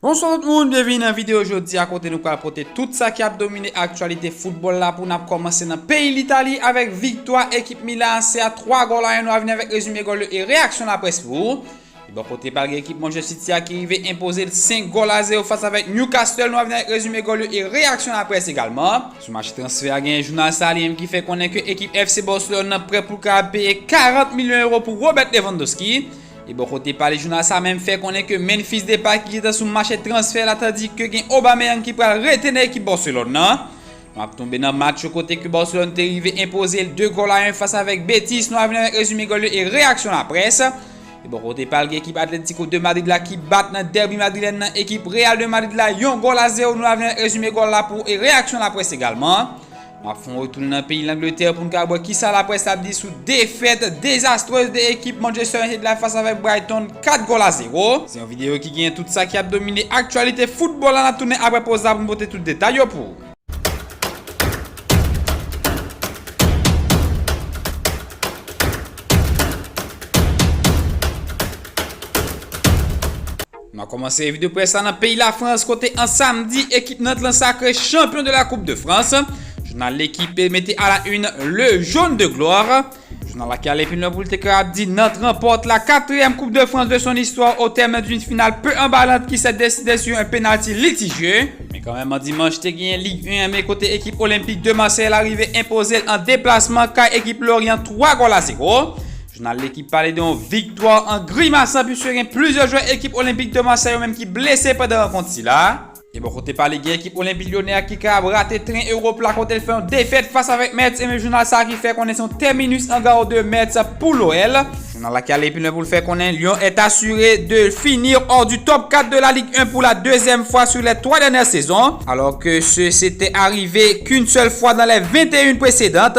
Bonswa tout moun, byenvini nan videyo jodi a kote nou pral pote tout sa ki ap domine aktyalite foutbòl la pou n ap kòmanse nan peyi Litali avèk viktwa ekip Milan AC a 3 gòl a 1 nou a vini avèk rezime gòl yo e reyaksyon laprès pou ou. Bò kote pal gen ekip Manchester City a ki rive enpoze l 5 gòl a 0 fas avèk Newcastle nou a vini avèk rezime gòl yo e reyaksyon laprès egalman. Sou mache transfè a genyen jounal sa li menm ki fè konnen ke ekip FC Barcelone nan prè pou l ka peye 40 milyon euro pou Robert Lewandowski. E bò kote pa li jounal sa menm fè konnen ke Memphis Depay ki gentan sou mache transfè la tandi ke gen Aubameyang ki pral rete nan ekip Barcelone nan. Nou ap tonbe nan match yo kote ke Barcelone te rive enpoze l 2 gòl a 1 fas avèk Betis, nou al vini avèk rezime gòl yo e reyaksyon laprès. E bò kote pa l gen ekip Atletico de Madrid la ki bat nan derby madrilèn nan ekip Real de Madrid la yon gòl a 0, nou al vini avèk rezime gòl la pou e reyaksyon laprès egalman. M ap fè yon retoun nan peyi Langletè pou n ka wè kisa laprès la ap di sou defèt dezastrez de ekip Manchester United la fas avèk Brighton 4 gòl a 0. Se yon videyo ki genyen tout sa ki ap domine aktyalite foutbòl la n ap tounen aprè poz la pou n pote tout detay yo pou ou. Nan kòmanse revi de près la nan peyi Lafrans kote an samdi ekip Nantes lan sakre chanpyon de la koup de Frans. Jounal L'Equipe mete a la une Le Jaune de Gloire. Jounal la ki ale pi lwen pou l te ka ap di Nantes ranpòte la katriyèm koup de Frans de son istwa o tèm d'une finale peu emballante ki sè deside sur un penalty litigieux. Men kanmenm an dimanch te genyen Ligue 1 an men kote ekip Olympique de Marseille la rive enpoze l an deplasman kay ekip Lorient 3 gòl a zero. Jounal Lekip pale de yon viktwa an grimasan puiske gen plizyè jwè ekip Olympique de Marseille yo menm ki blese pandan rankont sila a. E bò kote pa li gen ekip Olympique Lyonnais a ki ka ap rate tren Europe la kote l fè yon defèt fas avèk Metz e men jounal sa a ki fè konnen se yon terminus en gare de Metz pou l'OL. Jounal la ki ale pi lwen pou l fè konnen Lyon est assuré de finir hors du top 4 de la Ligue 1 pour la deuxième fois sur les trois dernières saisons alors que ce s'était arrivé qu'une seule fois dans les 21 précédentes.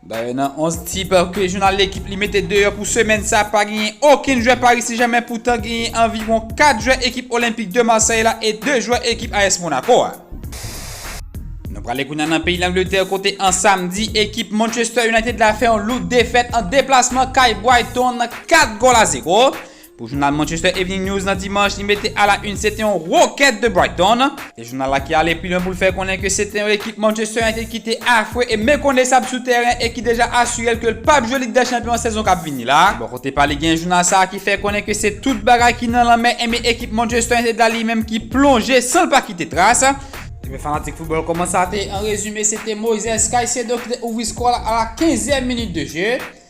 Dayè nan 11 tip ke jounal Lekip li mete deyò pou semèn sa pa genyen okenn jwè Paris Saint-Germain poutan genyen anviwon 4 jwè ekip Olympique de Marseille la e 2 jwè ekip AS Monaco a. Nou prale kounya nan peyi Langletè kote an samdi ekip Manchester United la fè yon lout defèt an deplasman kay Brighton 4 gòl a 0. Pou jounal Manchester Evening News nan dimanch li mete a la yn se te yon rokèt de Brighton. E jounal la ki ale pi lwen pou l fè konnen ke se te yon ekip Manchester United ki te afwe e mekonesab sou tèren e ki deja asire l ke l pap jwe Lig dè Chanpyon an sezon kap vini la. Bò kote pa li gen jounal sa a ki fè konnen ke se tout bagay ki nan lanmè enben ekip Manchester United la li menm ki plonje san l pa kite tras. Ebyen fanatik foutbòl kòman sa te an rezime se te Moises Caicedo ki te ouvri skò a la a la 15 èm minit de je.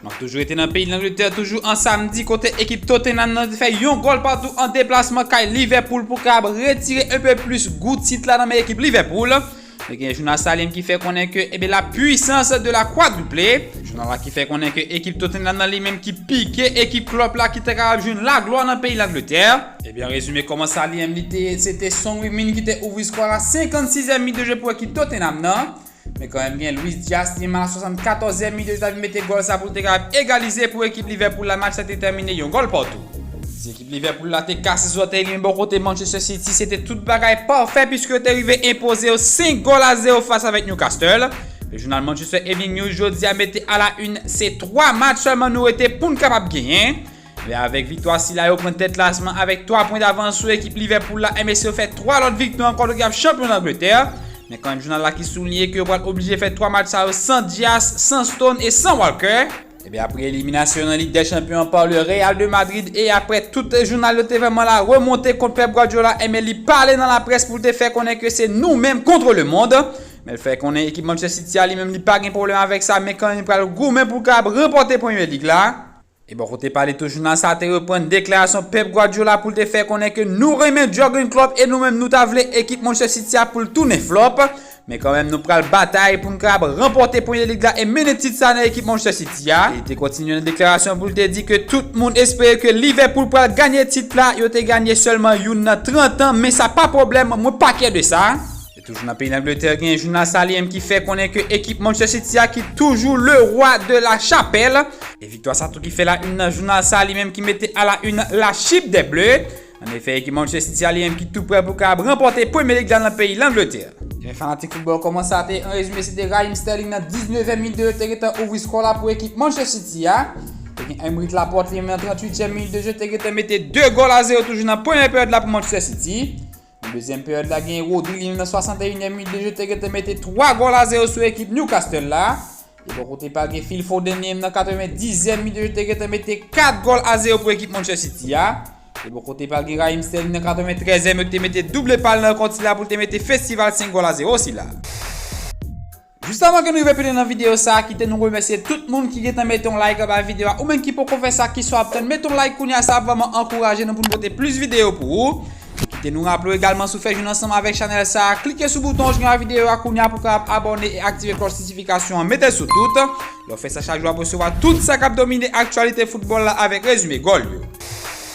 N ap toujou rete nan peyi Langletè toujou an samdi kote ekip Tottenham nan te fè yon gòl patou an deplasman kay Liverpool pou kab retire enpe plis gou tit la nan men ekip Liverpool. Nou gen jounal Salem ki fè konnen ke ebe la puissance de la quadruple. Jounal la ki fè konnen ke ekip Tottenham nan li menm ki pike ekip Klopp la ki ta kapab jwenn laglwa nan peyi Langletè. Ebyen rezime kòman Saliem li te ye se te Son Heung-min ki te ouvri skò a la 56 èm minit de jwe pou ekip Tottenham nan. Men kanmenm gen Luis Diaz ki man a 74 e minit yo ta vin mete gòl sa pou l te ka egalize pou ekip Liverpool la match la te tèmine yon gòl patou. Si ekip Liverpool la te kase zòtèy li men bò kote Manchester City se te tout bagay pafè piske yo te rive enpoze yo 5 gòl a 0 fas avèk Newcastle. Le jounal Manchester Evening News jodi a mete a la une se 3 match sèlman nou rete pou n kapab genyen. Men avèk viktwa sila yo pran tèt klasman avèk 3 pwen davans sou ekip Liverpool la MSC yo fè 3 lòt viktwa ankò dok yap chanpyon Angletè men kanmenm jounal la ki souliye ke yo pral oblije fè 3 match sa yo san Dias, san Stone e san Walker. Ebyen apre eliminasyon yo nan Lig dè Chanpyon an pa le Real de Madrid e aprè tout jounal yo te vrèman la remonte kont Pep Guardiola enben li pale nan laprès pou l te fè konnen ke se nou menm kontre le mond men l fè konnen ekip Manchester City a li menm li pa gen pwoblèm avèk sa men kanmenm li pral goumen pou l kapab ranpòte Premier League la. E bò kote pa li tou jounal sa te reprann deklarasyon Pep Guardiola pou l te fè konnen ke nou renmen Jurgen Klopp e nou menm nou ta vle ekip Manchester City a pou l tounen flop men kanmenm nou pral batay pou n kab ranpòte Premier League la e mennen tit sa nan ekip Manchester City a. Li te kontinye nan deklarasyon pou l te di ke tout moun espere ke Liverpool pral ganye tit la, yo te ganye sèlman youn nan 30 an men sa pa pwoblèm mwen pa kè de sa. Toujou nan peyi Langletè gen jounal sa li menm ki fè konnen ke ekip Manchester City a ki toujou le roi de la chapelle. E viktwa sa tou ki fè la une nan jounal sa li menm ki mete a la une la chip des Bleus. An efè ekip Manchester City a li menm ki tou prè pou kab ranpòte Premier League la nan peyi Langletè. Ebyen fanatik football kòman sa te an rezime se te Raheem Sterling nan 19 èm minit de jeu te gentan ouvri skò la pou ekip Manchester City a. Ebyen Aymeric Laporte li menm nan 38 èm minit de jeu te gentan mete 2 gòl a 0 toujou nan premyè peryòd la pou Manchester City. Nan dezyèm peryòd la genyen Rodri li menm nan 61 nyèm minit de jeu te gentan mete 3 gòl a 0 sou ekip Newcastle la. E bò kote pa gen Phil Foden li menm nan 90 nyèm minit de jeu te gentan mete 4 gòl a 0 pou ekip Manchester City a. E bò kote pa gen Raheem Sterling nan 93 nyèm yo te mete double pal nan kont sila pou te mete festival 5 gòl a 0 sila. Jis avan ke nou rive pi lwen nan video sa a kite nou remèsye tout moun ki gentan mete yon like anba video a ou menm ki poko fè sa kisa w ap tann mete yon like kounya sa ap vrèman ankouraje nou pou nou pote plis video pou ou kite nou raple w egalman si w fè jwenn ansanm avèk chanèl sa a klike sou bouton w jwenn anba video a kounya pou w kapab abòne e aktive klòch notifikasyon an mete sou tout lè w fè sa chak jou w ap resevwa tout sa k ap domine aktyalite foutbòl la avèk rezime gòl yo.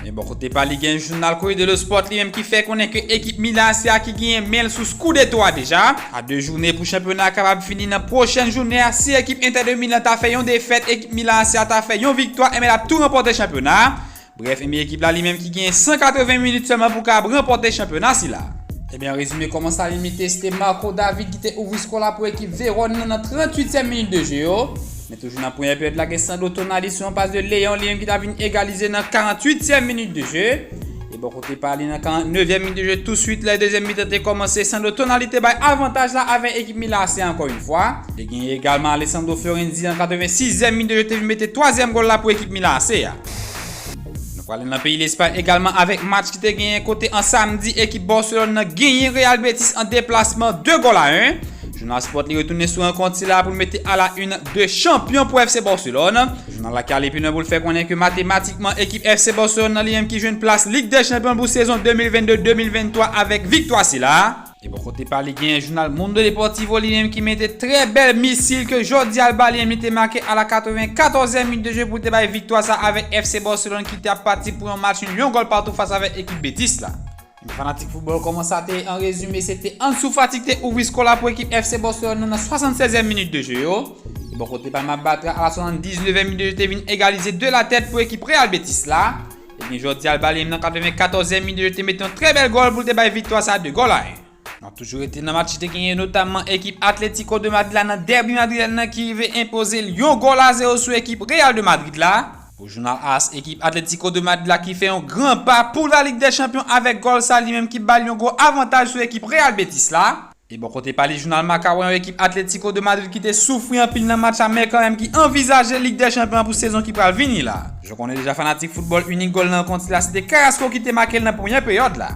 Men bò kote pa li gen jounal Corriere dello Sport li menm ki fè konnen ke ekip Milan an se a ki genyen men l sou Scudetto a deja. A 2 joune pou chanpyona a kapab fini nan pwochen jounen an si ekip Inter de Milan ta fè yon defèt ekip Milan an se a ta fè yon viktwa enben l ap tou ranpòte chanpyona a. Brèf enben ekip la li menm ki genyen 180 minit sèlman pou kapab ranpòte chanpyona sila a. Enben an rezime kòman sa li mete se te Marco David ki te ouvri skò la pou ekip Vérone nan nan 38 tyèm minit de je yo. Toujou nan premyè peryòd la gen Sandro Tonali sou yon pas de Léon, Léon ki ta vin egalize nan 48 tièm minit de je. E bò kote pa li nan 49 tièm minit de je tou suit lè dezyèm mitan te kòmanse, Sandro Tonali te bay avantaj la avè ekip Milan AC ankò yon fwa. Te genyen egalman Alessandro Florenzi nan 86 zièm minit de je te vin mete twazyèm gòl la pou ekip Milan AC a. Nou prale nan peyi Lespay egalman avèk match ki te genyen kote an samdi ekip Barcelone nan genyen Real Betis an deplasman 2 gòl a 1. Jounal Sport li retounen sou rankont sila pou l mete a la une 2 chanpyon pou FC Barcelone. Jounal la ki ale pi lwen pou l fè konnen ke matematikman ekip FC Barcelone nan li menm ki jwenn plas Lig dè Chanpyon l pou sezon 2022-2023 avèk viktwa sila. E bò kote pa li genyen jounal Mundo Deportivo li menm ki mete trè bèl misil ke Jordi Alba li menm li te make a la 94 è minit de jwe pou l te bay viktwa sa avèk FC Barcelone ki te ap pati pou yon match nul yon gòl patou fas avèk ekip Betis la. Ebyen fanatik foutbòl kòman sa te ye an rezime se te Ansu Fati ki te ouvri skò la pou ekip FC Barcelone nan nan 76 è minit de jwe yo. E bò kote Palma Bartra a la 79 è minit de jwe te vin egalize 2 la tèt pou ekip Real Betis la. Ebyen jodi a l bali m nan 94 èm minit yo te met yon trè bèl gòl pou l te bay viktwa sa 2 gòl a 1. N ap toujou rete nan match ki te genyen notamman ekip Atlético de Madrid la nan dèbi madrilèn nan ki rive enpoze l yon gòl a 0 sou ekip Real de Madrid la. Pou jounal as ekip Atlético de Madrid la ki fè yon gran pa pou la Ligue des Champions avèk gòl sa li menm ki bal yon gwo avantaj sou ekip Real Betis la. E bò kote pa li jounal Marca wè yon ekip Atlético de Madrid ki te soufri anpil nan match amè kanmèm ki anvizaje Lig dè Chanpyon an pou sezon ki pral vini la. Jou konnen deja fanatik foutbòl inik gòl nan rankont sila se te Carrasco ki te make l nan premyè peryòd la.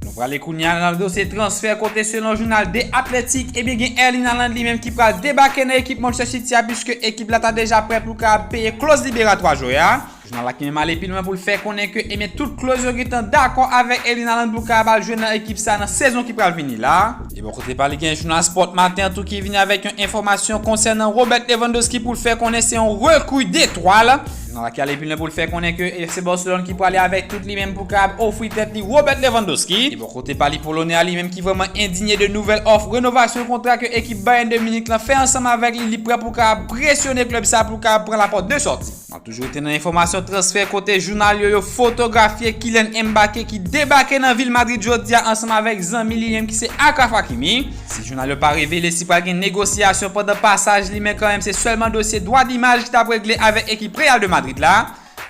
Nou prale kounye a nan dosye transfè kote selon jounal The Athletic ebyen gen Erling Haaland li menm ki pral debake nan ekip Manchester City a puiske ekip la ta deja prè pou l kapab peye kloz liberatwa jwè a. Jounal la kenbe male pi lwen pou l fè konnen ke ebyen tout kloz yo gentan dakò avèk Elina Landouka ap al jwe nan ekip sa nan sezon ki pral vini la a. E bò kote pa li gen jounal Sport Matin an tou ki vini avèk yon enfòmasyon konsènan Robert Lewandowski pou l fè konnen se yon rekru detwal. Jounal la ki ale pi lwen pou l fè konnen ke FC Barcelone ki prale avèk tout li menm pou kapab ofri tèt li Robert Lewandowski. E bò kote pa li polonè a li menm ki vrèman endinye de nouvèl òf renovasyon kontra ke ekip Bayern de Munich lan fè ansanm avèk li li prè pou kapab presyone klub sa a pou l kapab pran la pòt de sòti. Nan toujou rete nan enfòmasyon transfè kote jounal yo yo fotografye Kylian Mbacké ki debake nan vil Madrid jodi a ansanm avèk zanmi li menm ki se Achraf Hakimi. Si jounal yo pa revele si pral gen negosyasyon pandan pasaj li men kanmenm se sèlman dosye dwa d'imaj ki tap regle avèk ekip Real de Madrid la.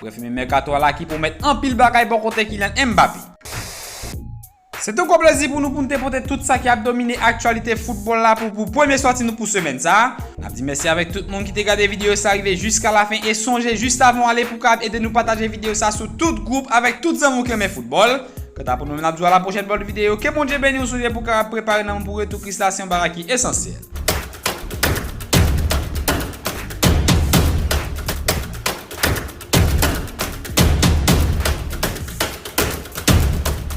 Brèf e menm mèkato a la ki pwomèt anpil bagay bò kote Kylian Mbappé. Se te yon gwo plezi pou nou pou nou te pote tout sa ki ap domine aktyalite foutbòl la pou w pou premye sòti nou pou semèn sa. N ap di mèsi avèk tout moun ki te gade videyo sa rive jiska lafen e sonje jis avan w ale pou w kapab ede nou pataje videyo sa sou tout gwoup avèk tout zanmi w ki renmen foutbòl. Kanta pou nou menm n ap di w a la pwochèn pou lòt videyo. Ke Bondye beni w sonje pou w kapab prepare nanm w pou retou Kris la se yon bagay ki esansyèl.